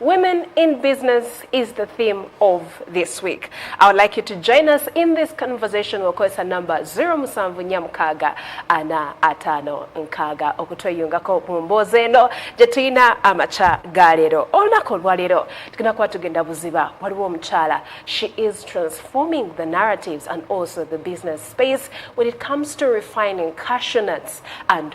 Women in Business is the theme of this week. I would like you to join us in this conversation okozesa number 07 nyamukaga ana atano nkaga okutweyungako mu mboozi eno gye tulina amakya ga leero olunaku olwaleero tugenda kuba tugenda buziba waliwo omukyala she is transforming the narratives and also the business space when it comes to refining cashew nuts and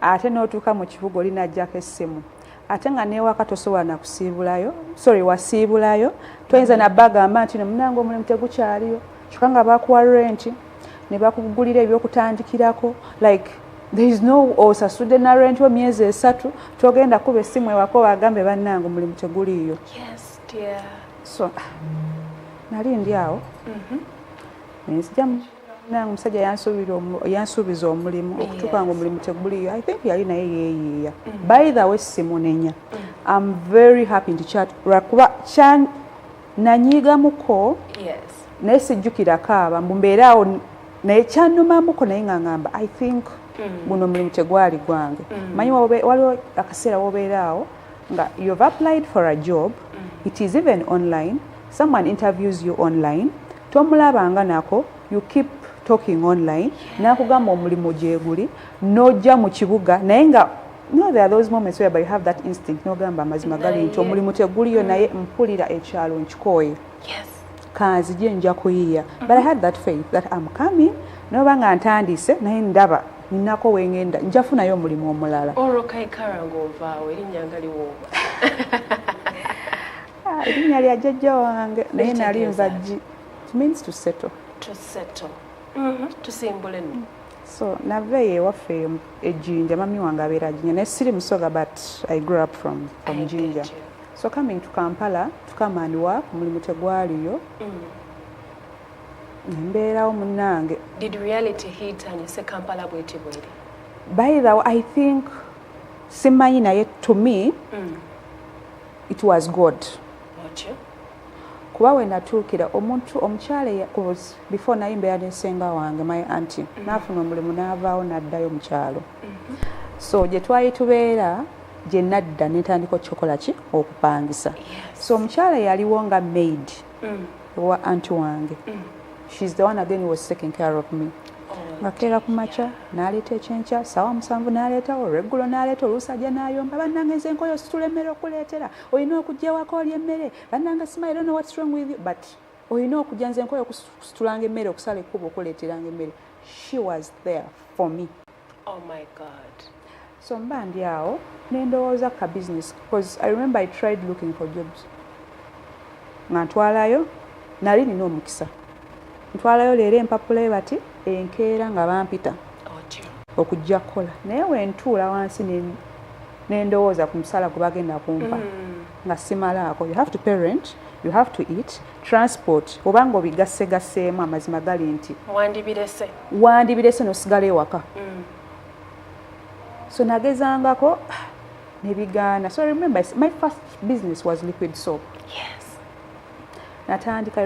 ate n'otuuka mu kibuga oli najjako essimu ate nga newaka tosobola nakusiibulayo sorry wasiibulayo toyinza nabagamba nti nomunange omulimu tegukyaliyo kyoka nga bakuwa renti nebakugulira ebyokutandikirako like there is no osasudde na renti wo myezi esatu togenda kuba essimu ewako bagambe bannange omulimu teguliiyo yes, so nali ndi awo mm -hmm. nenzijamu nange omusajja yansuubiza omulimu okutuuka nga omulimu teguliyo i think yali naye yeeyiiya mm. by the way simunenya mm. am very happy nti lwakuba nanyiigamuko naye sijjukirako aba mbu mbeeraawo naye kyanumamuko naye nga ngamba i think mm. guno omulimu tegwali gwange manyi waliwo akaseera wobeeraawo nga you've applied for a job mm. it is even online someone interviews you online tomulabanga nako you keep talking online nakugamba omulimu gyeguli nojja mu kibuga naye nga no there are those moments where you have that instinct nogamba amazima gali nti omulimu teguliyo naye mpulira ekyalo nkikooye yes. kanzije nja kuyiya but i had that faith that am coming noba nga ntandise naye ndaba ninako wengenda njafunayo omulimu omulala erinya lya jajja wange naye nali nvajji means to settle to settle mm-hmm. tusimbule no so nava eyo ewaffe ejinja mami wange abeera jinja naye siri musoga but i grew up from, from jinja So coming to Kampala to come and work mulimu tegwaliyo embeerawo mm. munnange did reality hit and you say Kampala bweti bweri by the way I think simanyi naye to me mm. it was God okay. kuba wenatuukira omuntu omukyala before naye mbeera nesenga wange my anti mm. nafuna omulimu n'avaawo n'addayo mukyalo mm. so gye twali tubeera gye nadda ne ntandika okukikola ki okupangisa so omukyala yaliwo nga maid mm. wa anti wange mm. she is the one again was taking care of me ngakeera ku makya n'aleeta ekyenkya saawa musanvu n'aleeta olweggulo n'aleeta oluusi ajja n'ayomba bannange nze nkoyo situla emmere okuleetera olina okugyewako oli emmere bannange simayiro no what's wrong with you but olina okujja nze nkoyo okusitulanga emmere okusala ekkuba okuleeteranga emmere she was there for me oh my god so mba ndi awo nendowooza ka business bcause i remember i tried looking for jobs nga ntwalayo nali nina omukisa ntwalayo leero empapula ebati enkeera nga bampita okujja kukola naye wentuula wansi nendowooza ku musala gwe bagenda kumpa mm. nga simalaako you have to parent you have to eat transport oba nga obigassegasseemu amazima gali nti wandibirese wandibirese nosigala ewaka mm. so nagezangako nebigaana so remember my first business was liquid soap yes natandika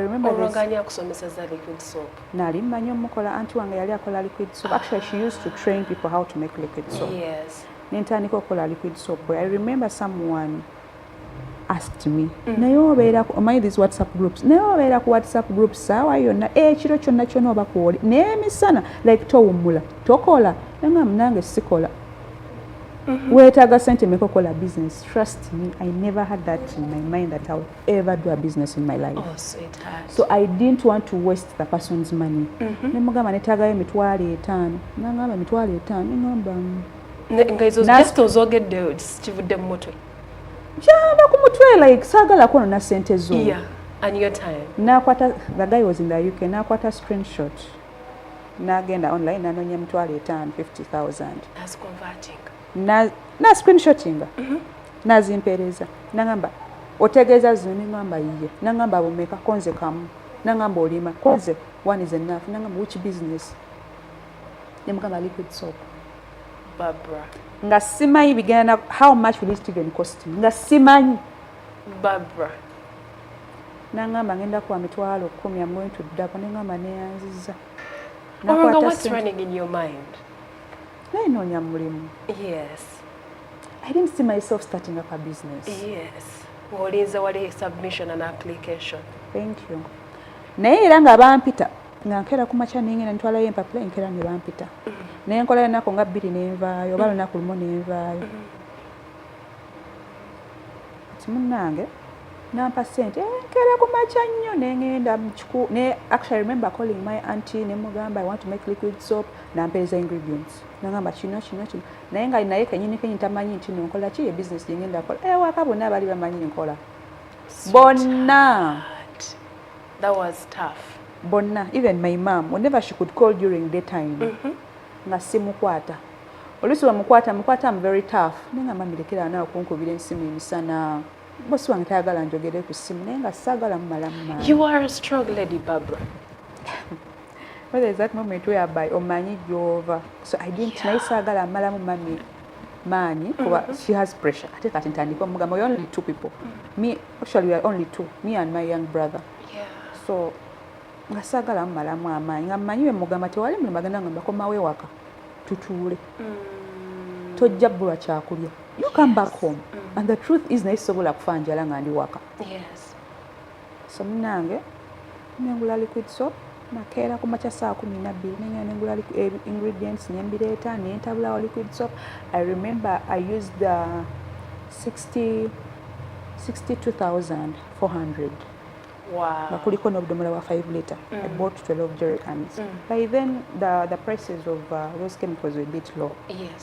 nali mmanyi omukola anti wange yali akola liquid soap actually she used to train people how to make liquid soap yes. ne ntandika okukola liquid soap i remember someone asked me mm. naye obeera omanyi these whatsapp groups naye obeera ku whatsapp group saawa yonna ekiro kyonna kyona oba kwoli naye emisana like towummula tokola nanga munange sikola mm-hmm. weetaaga sente meka okola business trust me i never had that in my mind that i would ever do a business in my life. Oh, sweetheart. So I didn't want to waste the person's money. Mm -hmm. Nemugamba netagayo mitwale etano. Nangamba mitwale etano. Ngamba. Nga izo just ozogedde kivudde mu mutwe. Kyava ku mutwe like sagala kono na sente zo. Yeah. And your time. Nakwata the guy was in the UK. Nakwata screenshot. Nagenda online nanonya mitwale etano 50,000. That's converting. na, na screenshotinga mm -hmm. nazimpeereza nangamba otegeeza zino nengamba yiye nangamba bumeka konze kamu nangamba olima konze one is enough nangamba which business nemugamba liquid soap Barbara. nga simanyi bigenda how much will it even cost nga simanyi Barbara. nangamba ngenda kuwa mitwalo kumi am going to dako nengamba neyanziza Oranga, what's running in your mind? naye noonya mulimu yes i didn't see myself starting up a business yes olinze wali submission and application thank you naye era nga bampita nga nkera ku makya naye ngenda ntwalayo empapula enkera ne bampita mm. naye nkolayo ennaku nga bbiri nenvaayo oba mm. lunaku lumu nenvaayo mm. ti munnange nampa sente eh, nkera ku makya nnyo nengenda ne actually remember calling my auntie nemugamba i want to make liquid soap nampeereza ingredients nagamba kino kino kino naye nga naye kenyini kenyini tamanyi nti nonkola ki ebisinesi gyengenda kola ewaka eh, bonna baali bamanyi nkola bonna bonna even my mam whenever she could call during day time mm -hmm. nga simukwata oluusi wemukwata mukwata am very tough naye nga mamirekera naawe kunkubira ensimu emisana bosi wange tayagala njogere ku simu naye nga saagala mumalamu you are a strong lady barbara whether is that moment whereby omanyi gyova so i didn't yeah. naye saagala amalamu mami maanyi kuba mm-hmm. she has pressure ate kati ntandika omugamba we only two people mm. me actually we are only two me and my young brother yeah. so nga saagala mumalamu amaanyi nga mmanyi we mugamba tewali mulimu agenda ngamba komawo ewaka tutuule mm. tojja bbulwa kyakulya you come back home mm. and the truth is naye sisobola kufa njala nga ndi waka yes. So munange nengula liquid soap nakeera ku makya saa kumi nabbiri nengenda nengula eh, ingredients nembireeta nentabulawo liquid soap i remember i used the 60 62400 nga kuliko n'obudomola bwa 5 liter mm. i bought 12 jericans mm. by then the, the prices of uh, those chemicals were bit low yes.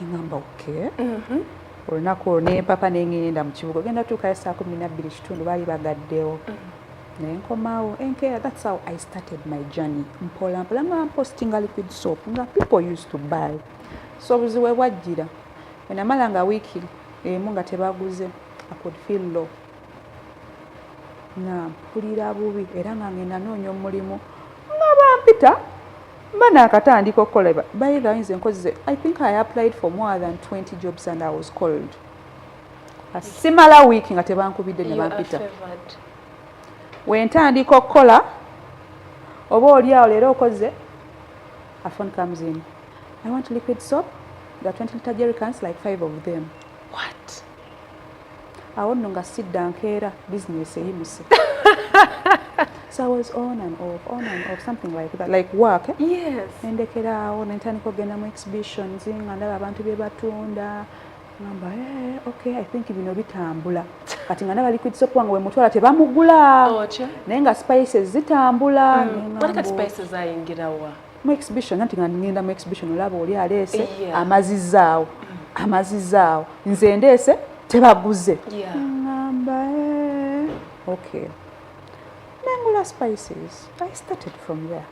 neŋamba oke mhm. olunaku olwo nempapa nengenda mu kibuga ogenda tuukayo saa kumi nabbiri kitundu baali bagaddewo mhm. nenkomawo enkeera thats how i started my journey mpola mpola nga mpostinga liquid soap nga people used to buy so obuzibu ebwajjira enamala nga wiiki emu nga tebaguze i could feel low nga mpulira bubi era nga ngenda noonya omulimu nga bampita mba naakatandika okukola bayiga ayinza enkozize i think i applied for more than 20 jobs and i was called simala wiiki nga tebankubidde ne bampita wentandika okukola oba oli awo leero okoze a phone comes in i want liquid soap the 20 liter jerry cans like five of them what awo nno nga sidda nkeera bizinesi eyimuse so i was on and off on and off something like that like work eh? yes nendekeraawo nentandika okugenda mu exhibitions nga ndaba abantu bye batunda ngamba eh, okay i think bino bitambula kati nga nabali kwitisa okuba nga wemutwala tebamugula naye nga spices zitambula mm. mu exhibition nanti nga ngenda mu exhibition olaba oli aleese yeah. amazizaawo amazizaawo nze ndeese tebaguze yeah. ngamba eh, okay nengula spices i started from there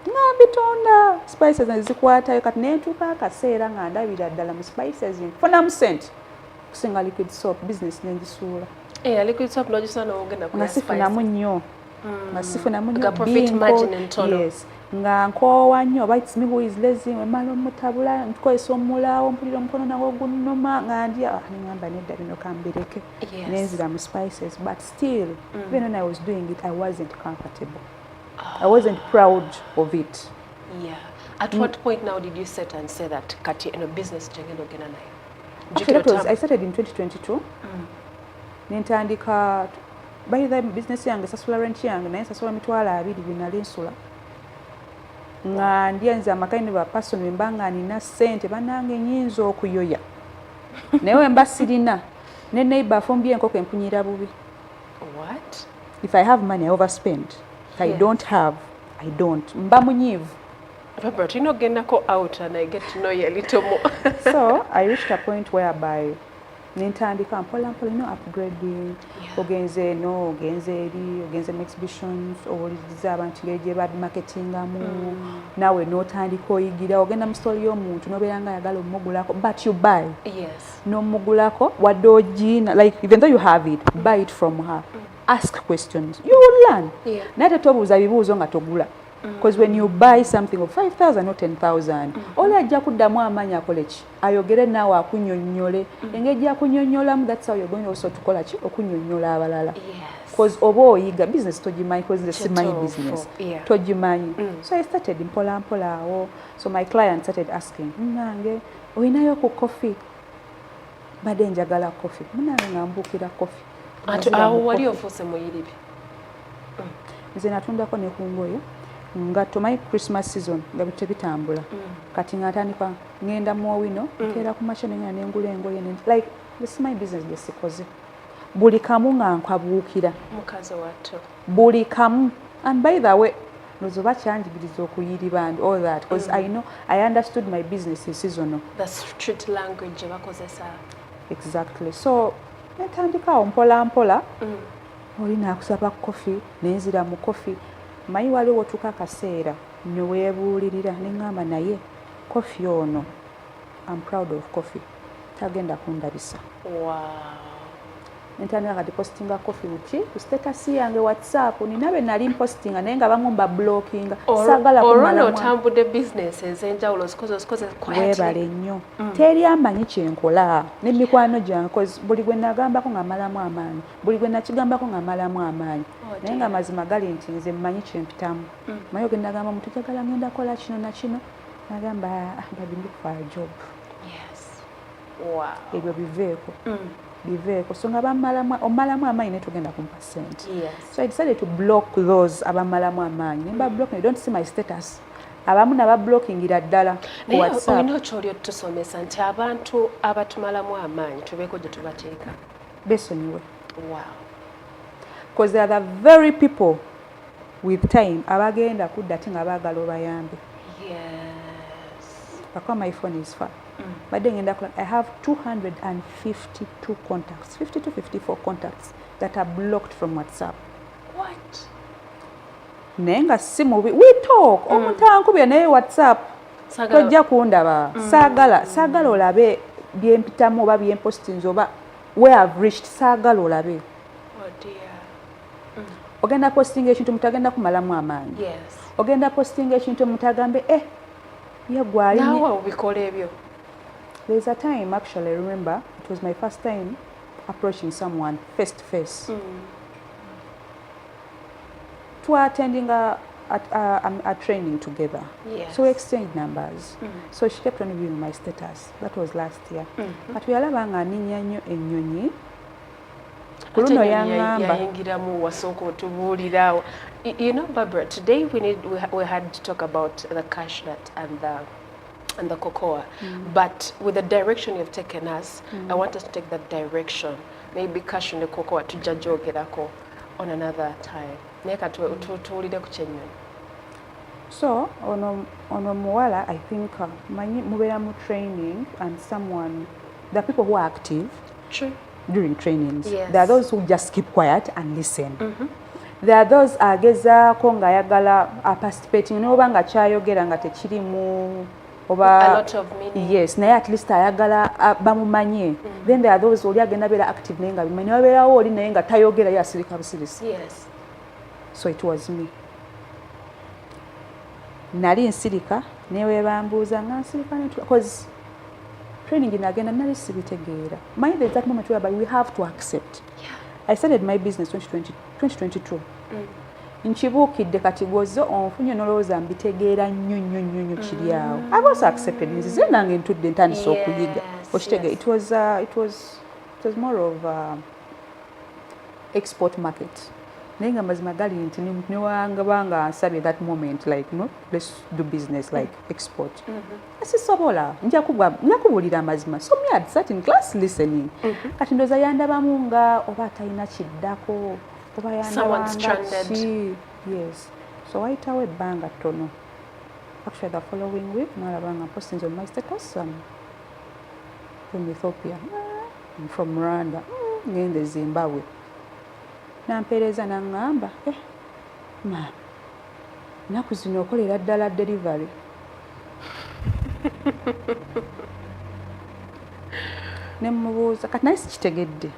nga mbitonda spices nezikwatayo kati nentuuka akaseera nga ndabira ddala mu spices nfunamu sente okusinga liquid soap business nenjisuula eh, nga sifunamu nnyo mm. nga sifunamu nyo yes nga nkoowa nnyo oba its me who is lazy wemala omutabula ntukozesa omulaawo mpulira omukono nawo gunuma nga ndi ah, nengamba nedda bino kambireke nenzira mu spices but still mm. even when i was doing it i wasn't comfortable oh. i wasn't proud of it yeah. at mm. what point now did you set and say that kati eno business gyengenda ogenda nayo i started in 2022 mm. nentandika by the business yange sasula rent yange naye sasula mitwalo abiri byenali nsula nga ndya nze amaka ne bapason wemba nga nina sente banange nyinza okuyoya naye wemba sirina ne neighbor afumbye enkoko empunyira bubi what if i have money i overspend if i don't have i don't mba munyivu Robert, you know, get out and I get to know you a little more. so I reached a point whereby nentandika mpola mpola no upgrading ogenze eno ogenze eri ogenze mu exhibitions owuliriza abantu ngeri gye babimarketingamu mm. nawe notandika oyigira ogenda mu story y'omuntu nobeera nga ayagala omugulako but you buy yes. nomugulako wadde ogiina like even though you have it mm. buy it from her mm. ask questions you will learn yeah. naye tetobuuza bibuuzo nga togula because mm. when you buy something of 5000 or 10000 mm. oli ajja kuddamu amaanyi akoleki ayogere naawe akunyonnyole mm. engeri gyakunyonnyolamu that's how you're going also tukola ki okunyonnyola abalala bcause oba oyiga business togimanyi bcause nze simanyi business togimanyi mm. so i started mpola mpola awo so my client started asking munange olinayo ku coffee mbadde njagala coffee munange nga mbuukira coffee awo wali ofuuse muyiribi mm. nze natundako ne ku ngoye nga tomanyi christmas season nga bitebitambula kati nga atandika ngenda mu owino mm. nkeera ku makya nengenda nengula engoye like this my business gyesikoze buli kamu nga nkwabuukira mukazi wattu buli kamu and by the way nozo bakyanjigiriza okuyiriba and all that because mm. i know i understood my business in seasono the street language gye bakozesa exactly so netandikaawo mpola mpola mm. oli nakusaba kofi nenzira mu kofi manyi waliwo wotuuka akaseera Newebuulirira nengamba naye coffee ono am proud of coffee tagenda kundabisa. Waaw. Nentandika kati postinga coffee buki ku status yange whatsapp nina be nali mpostinga naye nga bamu mba blockinga sagala kumala otambudde business ezenjawulo webale nnyo mm. teri amanyi kyenkola ne mikwano gyange cause buli gwe nagambako nga malamu amaanyi buli gwe nakigambako nga malamu amaanyi oh, naye nga mazima gali nti nze mmanyi kyempitamu mm. maye ogenda gamba omuntu jagala ngenda kola kino nakino nagamba ah, ah, babi look for a job ebyo biveeko mm. biveeko so nga omalamu amaanyi naye togenda kumpa sente so i decided to block those abamalamu amaanyi nemba mm. block don't see my status abamu nabablokingira ddala olina okyoli otusomesa nti abantu abatumalamu amaanyi tubeeko gye tubateeka besonyiwe wow. because they are the very people with time abagenda kudda ti nga bagala obayambe akuba my phone is far mm. badde ngenda kula i have 252 contacts 52 54 contacts that are blocked from whatsapp what naye nga si mubi we talk mm. omuntu ankubye naye whatsapp tojja kundaba mm. saagala saagala olabe byempitamu oba byempostinzi oba we have reached saagala olabe ogenda postinga ekintu omuntu agenda kumalamu amaanyi ogenda postinga ekintu omuntu agambe e eh, yegwalinawe obikola ebyo there's a time actually I remember it was my first time approaching someone face to face mm. twatendinga at, uh, um, a training together. Yes. So we exchanged numbers. Mm. So she kept on viewing my status. That was last year. Mm -hmm. But we are labanga ninyanyo enyonyi. kuluno yangamba yayingiramu wasooka otubuulira you know Barbara today we need we, we had to talk about the cash nut and the and the cocoa mm. but with the direction you've taken us mm. I want us to take that direction maybe cash and the cocoa tujja gyogerako on another time naye katuwulire ku kyennyonyi so ono ono muwala i think uh, manyi mubeera mu training and someone the people who are active True. during trainings yes. there are those who just keep quiet and listen mm -hmm. there are those agezaako ng'ayagala aparticipating noba nga kyayogera nga tekirimu oba yes naye at least ayagala bamumanye mm -hmm. then there are those oli agenda beera active naye nga bimanyi newabeerawo oli naye nga tayogera ye asirika busirisi yes. so it was me nali nsirika newebambuuza nga nsirika because training nagenda nali sibitegeera mind the exact moment whereby we have to accept yeah. i started my business 2020, 2022 mm. nkibuukidde kati gwoze onfunye nolowooza mbitegeera nnyo nnyo nnyo nnyo kiri mm. awo i've also accepted nzize nange ntudde ntandise okuyiga okitege it was uh, it was it was more of uh, export market naye nga mazima gali nti newangaba nga nsabye that moment like no let's do business like export mm -hmm. sisobola njakubulira amazima so me at certain class listening mm -hmm. kati ndoza yandabamu nga oba atalina kiddako oba yandabangaki yes so wayitawo ebbanga ttono actually the following week nalabanga postinze mu my status um, from ethiopia I'm from Rwanda ngende Zimbabwe nampeereza nangamba eh, ma naku zino okolera ddala delivery ne mubuuza kati naye sikitegedde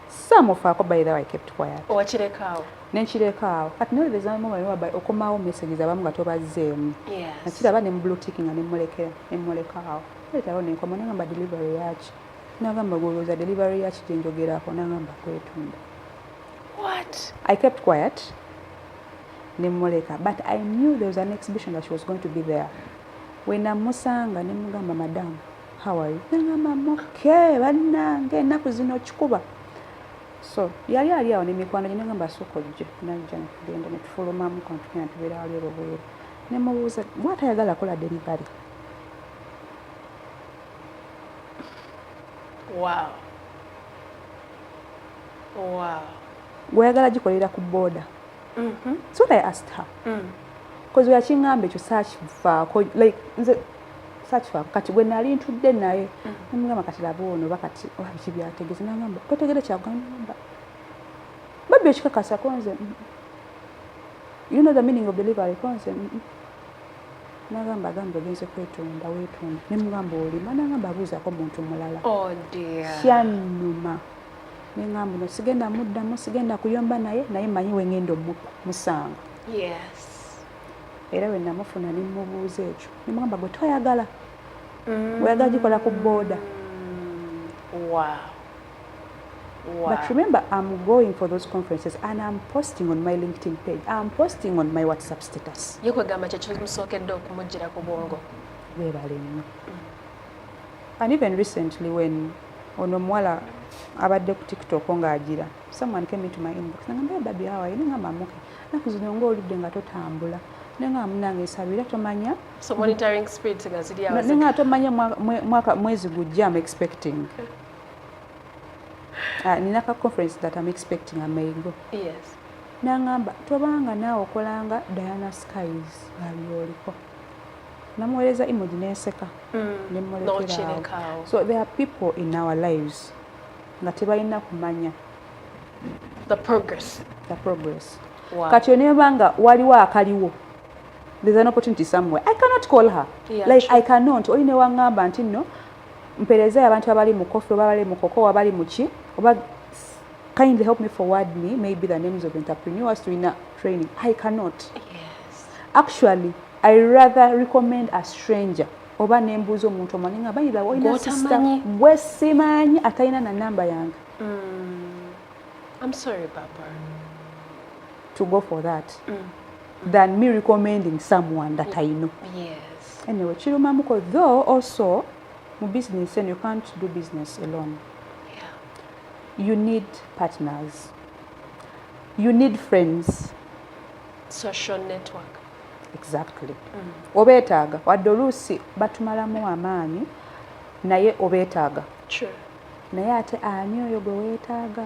saamufaako by the way kept quiet owakirekaawo nenkirekaawo kati nolebezamuwaliwaba okomawo messages abamu nga tobazzeemu nakiraba ne mublutik nga nemulekera nemulekaawo Leetawo nenkomo nagamba delivery yaki nagamba goloza delivery yaki gyenjogerako nagamba kwetunda what i kept quiet nemuleka but i knew there was an exhibition that she was going to be there wenamusanga nemugamba madamu how are you nagamba moke bannange ennaku zino kikuba so yali ali awo nemikwano gye nagamba asooka ojje najja netugenda netufulumamu kantukenatubeera wali olobweru nemubuuza gwatayagala kola delivery Wow. Wow. Gweyagala gikolera ku boda. Mm -hmm. So I asked her. Mm. Cause we are chingambe ekyo saakivaako like nze saakivaako kati gwe nali ntudde naye mm. namugamba kati laba ono oba kati oba oh, biki byategeze nangamba totegere kyagamba babbi ekikakasa konze mm. you know the meaning of delivery konze mm -mm. nagamba agamba ogenze kwetunda wetunda nemugamba olima nagamba abuuzako muntu mulala oh, kyanuma nengamba no sigenda muddamu sigenda kuyomba naye naye manyi wengenda omupa musanga era wenamufuna nemubuuza ekyo nemugamba gwe toyagala mm. oyagala gikola ku booda Wow. But remember, I'm going for those conferences and I'm posting on my LinkedIn page. I'm posting on my WhatsApp status. Yekwe gamba checho msoke do kumujira kubongo. Weba lemu. And even recently when ono mwala abadde ku TikTok nga ajira, someone came into my inbox. Nga mbe babi hawa, yini nga mamuke. Na kuzinongo ulibde nga totambula. Nenga munange sabira tomanya. So monitoring speed nga zidi hawa. Nenga tomanya mwaka mwezi gujia I'm expecting. Okay. ah, nina ka conference that am expecting a may go yes nangamba tobanga naawe okolanga diana skies ngabyoliko namuweereza emoji nenseka mm. nemulekerawo so there are people in our lives nga tebalina kumanya the progress the progress wow. kati onebanga waliwo akaliwo there's an opportunity somewhere i cannot call her yeah, like true. i cannot oli newangamba nti no mpereeza yabantu abali mu coffee oba abali mu koko oba bali muki oba kindly help me forward me maybe the names of entrepreneurs to ina training i cannot yes. actually i rather recommend a stranger oba nembuuza omuntu omanyi nga bayira olina sista gwe simanyi atalina na namba yange mm. I'm sorry, Papa. to go for that mm. than me recommending someone that I know. Yes. Anyway, kirumamuko though also mu business and you can't do business alone. Yeah. You need partners. You need friends. Social network. Exactly. Mm. Obetaaga wadde oluusi batumalamu amaanyi naye obetaaga. True. Naye ate ani oyo gwe weetaaga?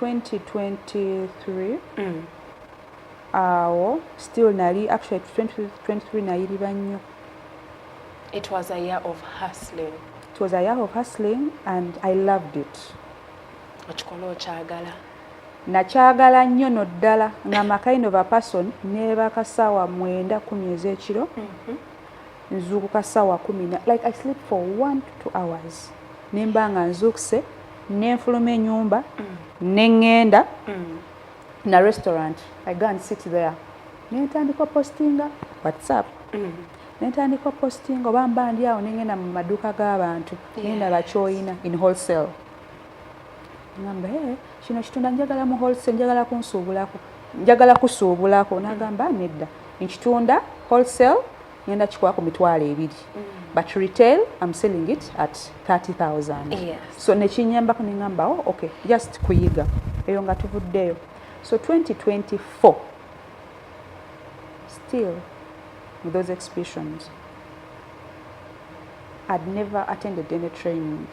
2023 awo still nali actually 2023 nayirira nnyo it was a year of hustling it was a year of hustling and i loved it okikola okyagala nakyagala nnyo no ddala nga makaino bapason nebakasawa mwenda kumi ezekiro mm -hmm. nzuukuka ssaawa kumi na like i sleep for one to two hours ne mba nga nzuukuse ne nfuluma enyumba mm. ne ŋŋenda mm. na restaurant i go and sit there ne ntandika opostinga whatsapp mm. ne ntandika opostinga oba mba ndi awo ne ŋŋenda mu maduuka g'abantu ne ndaba kyoyina in wholesale ngamba ee kino kitunda njagala mu wholesale njagala kunsuubulako njagala kusuubulako nagamba nedda nkitunda wholesale ngenda kikuwa ku mitwalo ebiri mm. but retail am selling it at 30000 so nekinyambako nengambawo oh, okay just kuyiga eyo nga tuvuddeyo so 2024 still with those exhibitions i'd never attended any training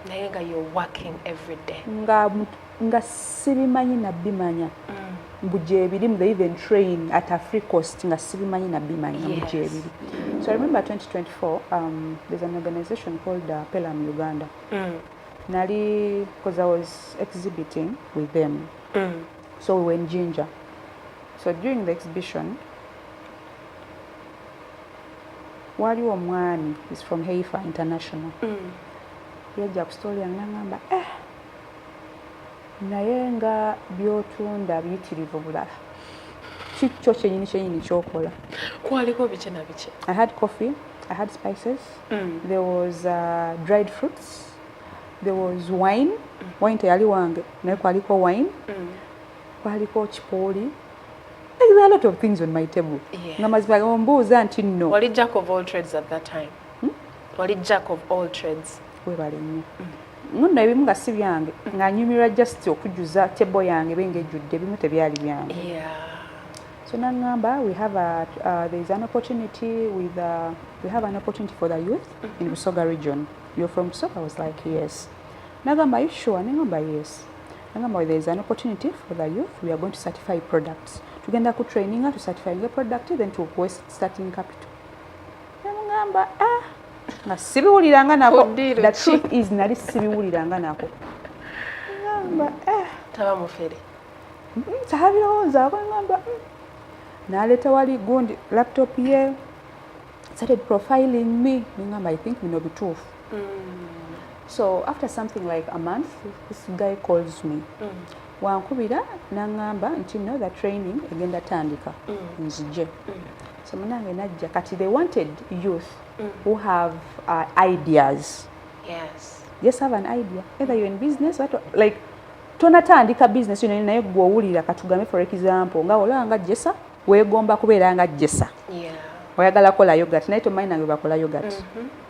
naye nga you're working every day nga nga sibimanyi nabimanya mm. mbu gyebirimu they even train at afree cost nga sibimanyi nabimanya mbu gyebiri so i remember 2024 um, there's an organization called uh, pelam uganda mm. nali because i was exhibiting with them mm. so we were in ginger so during the exhibition waliwo omwami is from heifa international mm. yajja ku story yange nangamba eh, naye nga byotunda biyitirivu bulala kikyo kyenyini kyenyini kyokola kwaliko biki na biki i had coffee i had spices mm. there was uh, dried fruits there was wine mm. wine teyali wange naye kwaliko wine mm. kwaliko kipooli There are a lot of things on my table. Yes. Nga mazima ombuuza nti no. Wali jack of all trades at that time. Hmm? Wali jack of all trades. Webale nnyo. Mm. Nno ebimu nga si byange mm. nga nyumirwa just okujuza table yange benge ejjudde ebimu tebyali byange. Yeah. So nangamba we have a uh, there is an opportunity with uh, we have an opportunity for the youth mm -hmm. in mm-hmm. Busoga region. You're from Busoga? I was like yes. Nagamba are you sure? Nengamba yes. Nangamba where there is an opportunity for the youth, we are going to certify products. Tugenda ku traininga, to certify the product, then to kuwe starting capital. Namugamba, ah, nga sibiwuliranga nako. Oh, the truth is, nali sibiwuliranga nako. Nangamba, ah. Taba mufere. Mm-hmm, Tahabirowooza, ako nangamba, mm. Naleta wali gundi laptop ye, started profiling me. Nangamba, I think bino bituufu. so after something like a month this guy calls me mm. wankubira nangamba nti no the training egenda tandika mm. nzije mm. so munange najja kati they wanted youth mm. who have uh, ideas yes. yes have an idea either you're in business or like tonatandika business yona naye gwe owulira katugambe for example nga olaba nga jesa wegomba kubeera nga jesa yeah. oyagala kola yogat naye tomanyi nange bakola yogat mm -hmm.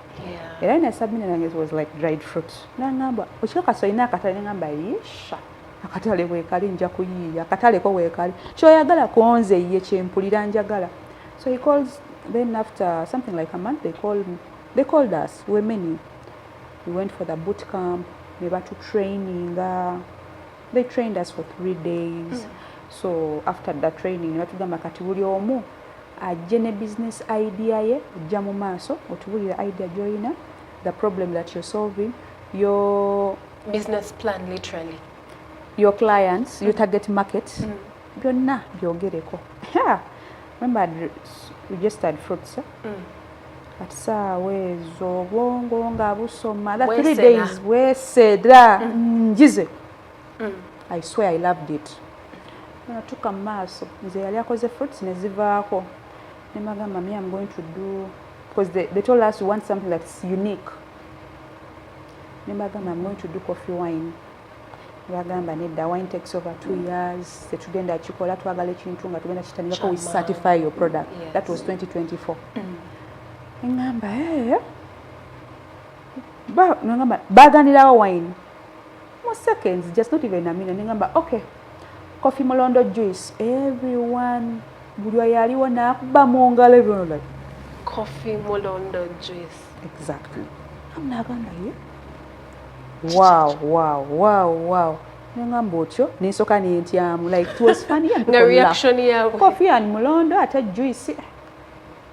era ne sabina nange was like dried fruit nangamba okika kaso ina akatale nengamba yisha akatale wekali nja kuyiiya akatale ko wekali kyoyagala konze ye kyempulira njagala so he calls then after something like a month they called, they called us we were many we went for the boot camp ne batu traininga they trained us for three days mm. so after the training ne batugamba kati buli omu ajje ne business idea ye jja mu maaso otubulire idea gyoyina the problem that you're solving your business plan literally your clients mm. your target market mm. byonna byogereko yeah. remember we just had fruits eh? mm. at saawa ezo obwongo nga busoma that three days bwesera mm. njize mm. mm. i swear i loved it natuka mu maaso nze yali akoze fruits ne zivaako ne magamba me am going to do because they, they told us we want something that's unique ne magamba am going to do coffee wine bagamba nedda wine takes over two mm. years tetugenda kikola twagala ekintu nga tugenda kitandikako we certify your product yes. that was 2024 mm. eŋamba hey. Eh, eh. baganirawo wine mu seconds just not even a minute nengamba okay coffee mulondo juice everyone buli oyo aliwo nakuba mu ngalo everyone like coffee mulondo juice exactly amnagamba ye wow wow wow wow nengamba otyo nensoka nentyamu like it was funny and reaction yabwe coffee and mulondo ate juice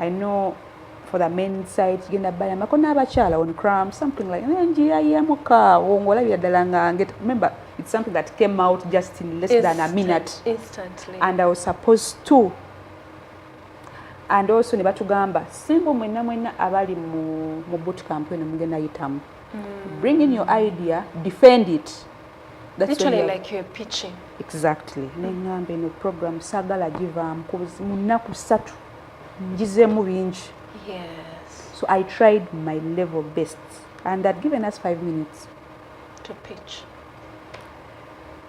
I know for the men side kigenda balamako n'abakyala on cram something like naye njiya yemuka awo ng'olabira ddala nga nget remember it's something that came out just in less Instant, than a minute instantly. and i was supposed to and also ne batugamba simbu mwenna mwenna abali mu, mu boot camp eno mugenda yitamu mm. bring in your idea defend it That's Literally like you're pitching. Exactly. Mm. Nengamba eno program sagala givaamu mu nnaku ssatu ngizeemu bingi so i tried my level best and had given us five minutes to pitch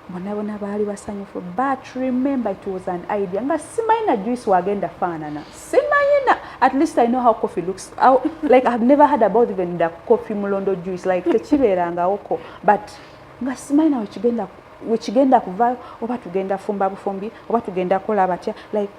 bonabona baali basanyufu but remember it was an idea nga simanyi na juice wagenda faanana simanyi na at least i know how coffee looks how, like ihave never heard about even the coffee mulondo juice like tekibeerangawoko but nga simanyi na wekigenda wekigenda kuvayo oba tugenda fumba bufumbi oba tugenda kola batya like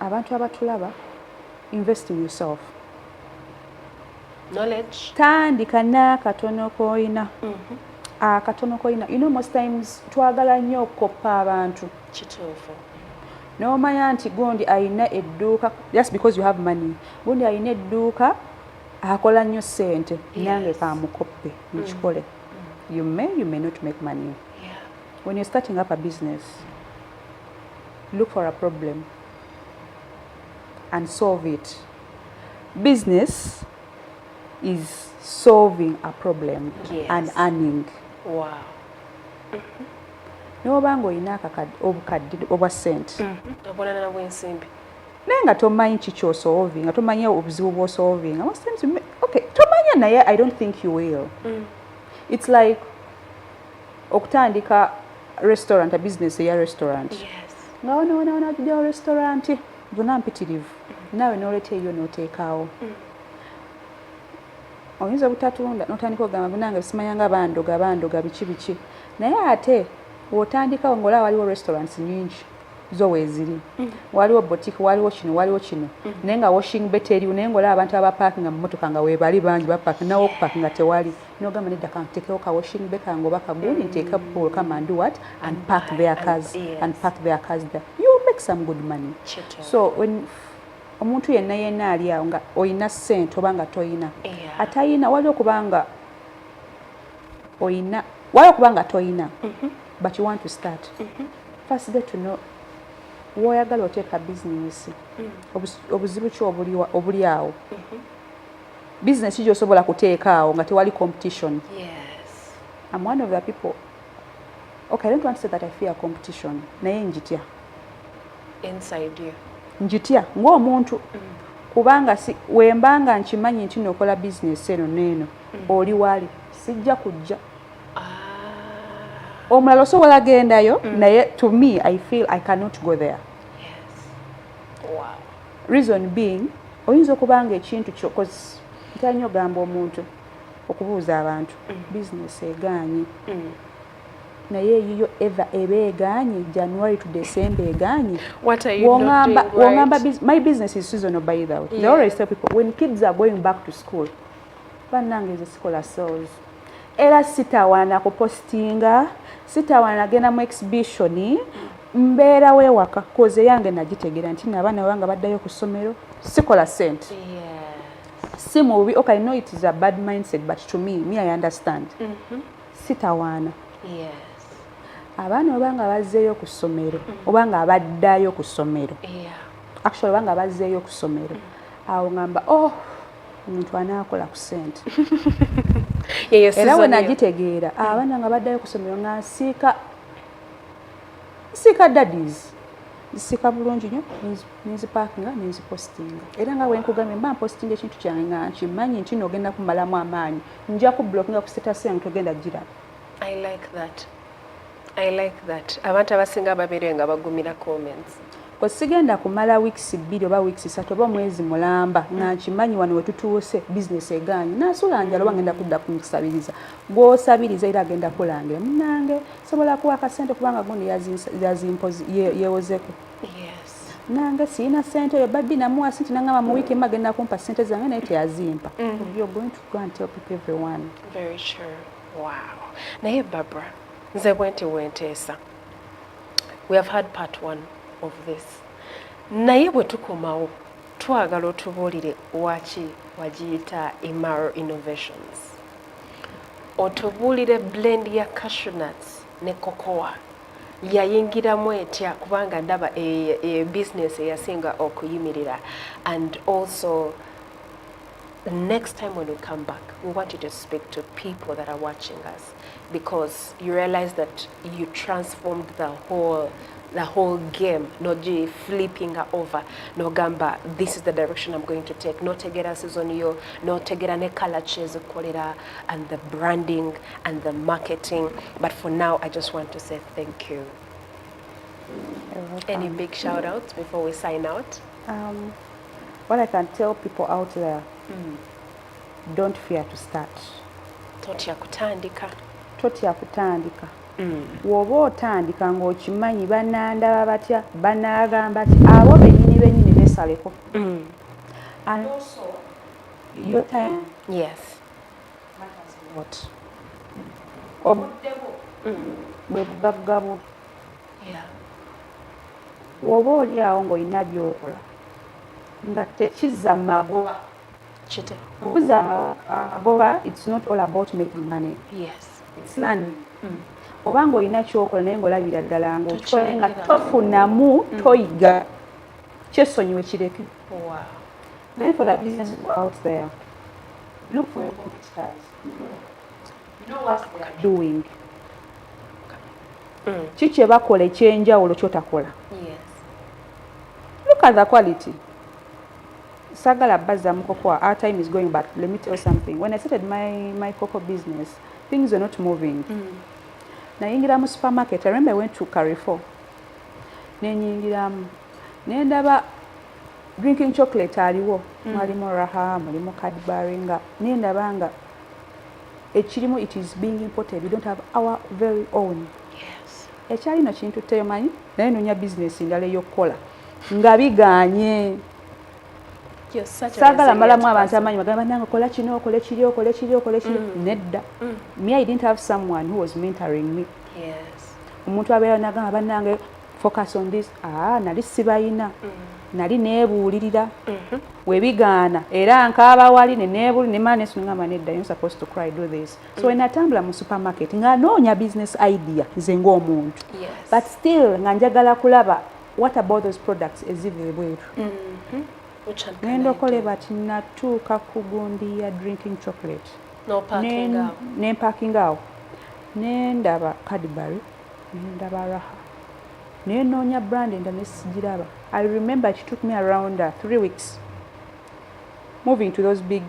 abantu abatulaba invest in yourself knowledge tandika n'akatono koyina mm -hmm. akatono koyina you know most times twagala nnyo okukoppa abantu kituufu nomanya nti gundi ayina edduuka just because you have money gundi ayina edduuka akola nnyo sente yes. nange kamukoppe mukikole mm. mm. you may you may not make money yeah. when you're starting up a business look for a problem and solve it business is solving a problem yes. and earning wow. noba nga olina obukadde obwa sente mm-hmm. naye nga tomanyi kikyosolvi nga tomanyi obuzibu bwosolvi nga tomanya naye i don't think you will mm. it's like okutandika restaurant business eya restaurant nga wonawonaona atujawo restaurant gona mpitirivu naawe noleta eyo noteekaawo mm. oyinza obutatunda notandika ogamba gunange simanyanga bandoga bandoga biki biki naye ate wotandikawo ngaola waliwo restaurants nyingi zo weziri mm. waliwo botik waliwo kino waliwo kino mm. naye nga washing beteriwo naye ngaola abantu abapakinga mumotoka nga webali bangi bapak nawe okupakinga tewali nogamba nedda kantekewo ka washing be kange oba kagundi nteeka ball come and do what and park their cars and park their cars there you make some good money so when omuntu yenna yenna ali awo nga olina sente oba nga toyina atayina waliwo kubanga oyina waliwo kubanga toyina mm-hmm. but you want to start mm-hmm. first get to know woyagala oteeka bizinesi mm. obuzibu ki obuli awo mm-hmm. Business jo sobola kuteeka awo nga tewali competition. Yes. I'm one of the people. Okay, I don't want to say that I fear competition. Naye njitya. Inside you. Njitya ng'omuntu mm. kubanga si wembanga nkimanyi nti nokola business eno neeno mm. oli wali sijja kujja. Ah. Omulala osobola gendayo mm. naye to me I feel I cannot go there. Reason being oyinza okuba nga ekintu kyo koz ntera nnyo ogamba omuntu okubuuza abantu mm. bizinesi egaanyi mm. naye eyiyo eva eba egaanyi january to december egaanyi wongamba my business is seasonal by the way yeah. they always tell people when kids are going back to school bannange nze sikola souls era sitawaana kupositinga sitawaana genda mu exhibition mbeera wewaka koze yange nagitegera nti nabaana banga baddayo ku ssomero sikola sente si mubi ok no it is a bad mindset but to me me i understand mm -hmm. sitawaana abaana obanga bazzeeyo ku ssomero mm-hmm. obanga abaddayo ku ssomero actually obanga bazzeeyo ku ssomero mm. awo ngamba oh omuntu anaakola ku sente era wenagitegeera mm. abaana nga baddayo kusomero nga nsiika nsiika dadis nsiika bulungi nyo nenzipakinga nenzipostinga era nga wenkugambye mba mpostinga ekintu kyange nga nkimanyi nti nogenda kumalamu amaanyi nja ku blokinga ku setasenga togenda giraba I like that. Abantu abasinga babere nga bagumira comments. Ko sigenda kumala weeks bbiri oba weeks satu oba mwezi mulamba mm. nga nkimanyi wano wetutuuse business eganyi nasula njalo mm. ngenda kudda kumusabiriza gwosabiriza era agenda kulangira munange sobola kuwa akasente kubanga gundi yazimpozi yewozeko yes. nange sirina sente eyo babbi namuwa sente nangamba mu wiiki emu agenda kumpa sente zange naye teyazimpa mm. you're going to go and tell people everyone Very sure. Wow. Naye Barbara, nze bwenti wenteesa. We have had part one of this. Naye bwe tukomawo twagala otubuulire waki wagiyita Imaro Innovations. Otubuulire blend ya cashew nuts ne cocoa yayingiramu etya kubanga ndaba e, e business eyasinga okuyimirira and also the next time when you come back, we want you to speak to people that are watching us because you realize that you transformed the whole the whole game not just flipping her over no gamba this is the direction i'm going to take no notegera season yo notegera ne color chase kolera and the branding and the marketing but for now i just want to say thank you any big shout outs before we sign out um, What I can tell people out there, mm. don't fear to start. Totya kutandika. Totya kutandika. Mm. Woba otandika ng'okimanyi banandaba batya banaagamba ti abo bennyini bennyini besaleko. Mm. And also, your time. Yes. Matters a lot. Obudde bwo. Mm. Bwe bugagga bwo. oba oli awo ng'olina byokola nga tekizza magoba okuza amagoba its not all about making money its learning hmm. oba ng'olina kyokola naye ng'olabira ddala ngaokikole nga tofunamu hmm. toyiga kyesonyiwe kireke naye for the business out there look for your competitors doing mm. ki kyebakola ekyenjawulo kyotakola look at the quality sagala baza mukokoa our time is going but let me tell something when i started my, my coco business things were not moving mm. nayingira mu supermarket i remember i went to carrefour nenyingiramu nendaba drinking chocolate aliwo mm. mwalimu raha mulimu cadbury nga nendaba nga ekirimu it is being imported we don't have our very own yes ekyalino kintu temanyi naye nonya business ndala eyokukola nga biganye sagala malamu abantu amanyi bagamba nange kola kino okole kiri okole kiri okole kiri mm. nedda mm. me i didn't have someone who was mentoring me yes omuntu abeera nagamba banange focus on this ah nali sibayina mm. nali nebuulirira mm -hmm. webigaana era nkaaba wali neneebuli ne mane sunungamba nedda you supposed to cry do this so mm -hmm. enatambula mu supermarket nga noonya business idea nze ng'omuntu yes. but still nga njagala kulaba what about those products eziri ebweru mm -hmm. ngenda okole bati natuuka ku gundi ya drinking chocolate nempakinga awo nendaba cadbury nendaba raha naye noonya brand enda nesigiraba i remember it took me around uh, three weeks moving to those big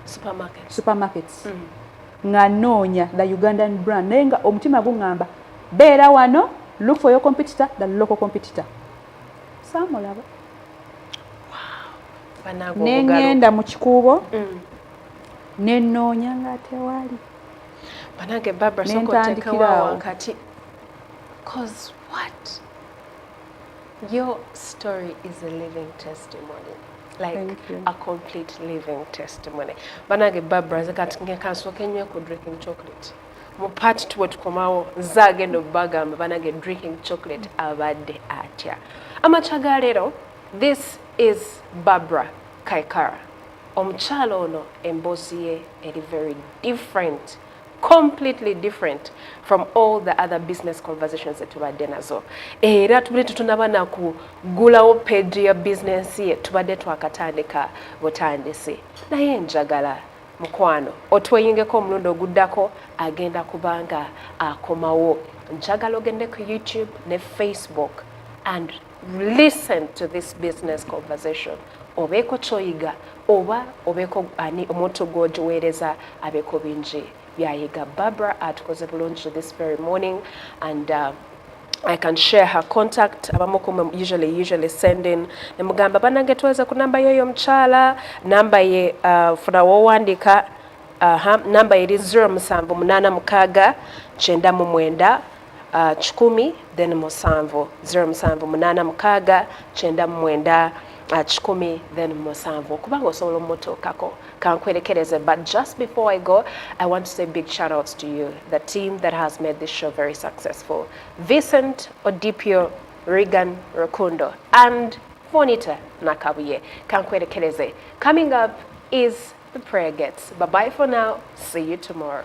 supermarkets, supermarkets. Mm. nga noonya the ugandan brand naye nga omutima guŋŋamba beera wano look for your competitor the local competitor saamulaba nengenda mu kikuubo mm. nenoonya nga tewali banange barbara sokotekawa wakati cause what your story is a living testimony like a complete living testimony banange barbara nze kati ngekansoka enyo ku drinking chocolate mu part two wetukomawo nze agenda obubagamba banange drinking chocolate abadde atya amakya ga leero this is barbara kaikara Omukyala ono emboozi ye eri very different completely different from all the other business conversations that tubadde nazo era tubadde tetunaba na kugulawo page ya business ye tubadde twakatandika butandisi naye njagala mukwano otweyingeko omulundi oguddako agenda kubanga akomawo njagala ogende ku youtube ne facebook and listen to this business conversation obeeko kyoyiga oba obeeko ani omuntu gwogiweereza abeeko bingi byayiga barbara atukoze bulungi this very morning and uh, I can share her contact abamu kumwe usually usually send in nemugamba banange tuweze ku namba yoyo omukyala namba ye uh, funa wowandika uh, namba eri 0786 99 Uh, kikumi then musanvu zero musanvu munaana mukaaga kyenda mu mwenda uh, kikumi then musanvu okuba nga osobola omutuukako kankwerekereze but just before i go i want to say big shout outs to you the team that has made this show very successful vincent odipio regan rukundo and fonita nakabuye kankwerekereze coming up is the prayer gets bye bye for now see you tomorrow